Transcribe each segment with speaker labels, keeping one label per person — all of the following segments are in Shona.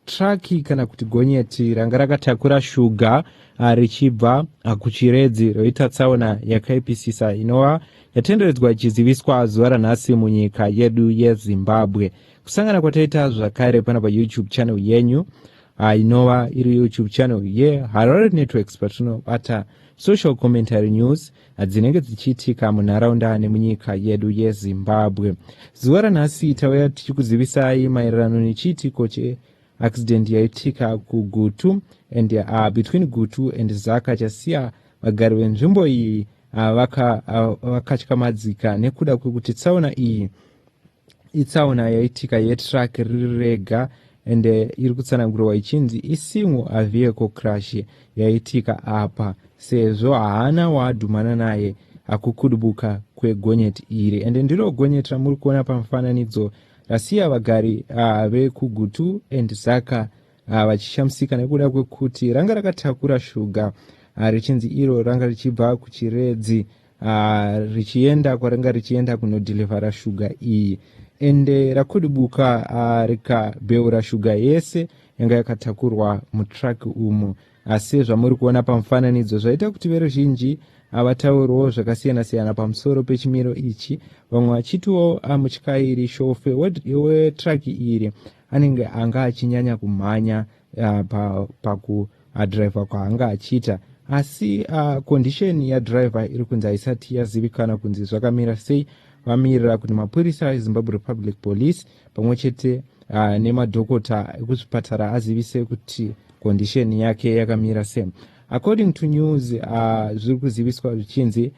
Speaker 1: Traki kana kuti gonyeti ranga rakatakura shuga ah, richibva ah, kuchiredzi roita tsaona yakaipisisa inova yatenderedzwa ichiziviswa zuva ranhasi munyika yedu yezimbabwe kusangana kwataita zvakare pano payoutube channel yenyu ah, inova iri youtube channel yeharare networks patinobata social commentary news dzinenge dzichiitika munharaunda nemunyika yedu yezimbabwe zuva ranhasi tauya tichikuzivisai maererano nechiitiko cheaccident yaitika kugutu and uh, between gutu and zaka chasiya vagari venzvimbo iyi uh, vakatyakamadzika uh, vaka, uh, nekuda kwekuti tsaona iyi itsaona yaitika yetruck riri rega and eh, iri kutsanangurwa ichinzi isingle a vehicle crash yaitika apa sezvo haana waadhumana naye akukudubuka kwegonyeti iri ende ndiro gonyeti ramuri kuona pamufananidzo rasiya vagari uh, vekugutu and zaka uh, vachishamisika nekuda kwekuti ranga rakatakura shuga uh, richinzi iro ranga richibva kuchiredzi uh, richienda kwaringa richienda kunodhilivhara shuga iyi ende rakudibuka uh, rikabeura shuga yese yanga yakatakurwa mutraki umu asi zvamuri kuona pamufananidzo zvaita kuti veruzhinji havatauriwo zvakasiyana-siyana pamusoro pechimiro ichi vamwe vachitiwo amutyairi shofe wetraki iri anenge anga achinyanya kumhanya uh, pakudriver pa, uh, kwaanga achiita asi uh, condition yadriver iri kunzi haisati yazivikana kunzi zvakamira sei vamirira kuti mapurisa ezimbabwe republic police pamwe chete uh, nemadhokota ekuzvipatara azivise kuti condition yake yakamira sei according to news uh, zviri kuziviswa zvichinzi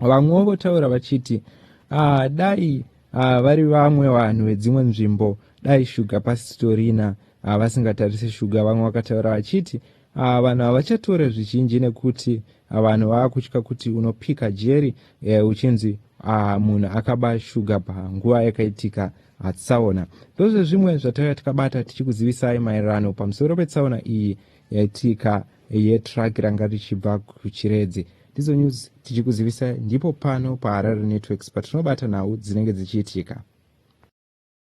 Speaker 1: vamwewo votaura vachiti ah, dai ah, vari vamwe vanhu vedzimwe nzvimbo dai shuga pasitorina ah, vasingatarise shuga vamwe vakataura vachiti ah, vanhu havachatore zvizhinji nekuti ah, vanhu vava kutya kuti unopika jeri eh, uchinzi ah, munhu akaba shuga panguva yakaitika atsaona ndozvezvimwe zvataiva tikabata tichikuzivisai maererano pamusoro petsaona iyi yaitika yetruck ranga richibva kuchiredzi ndizo news tichikuzivisa ndipo pano paharare networks patinobata nhau dzinenge dzichiitika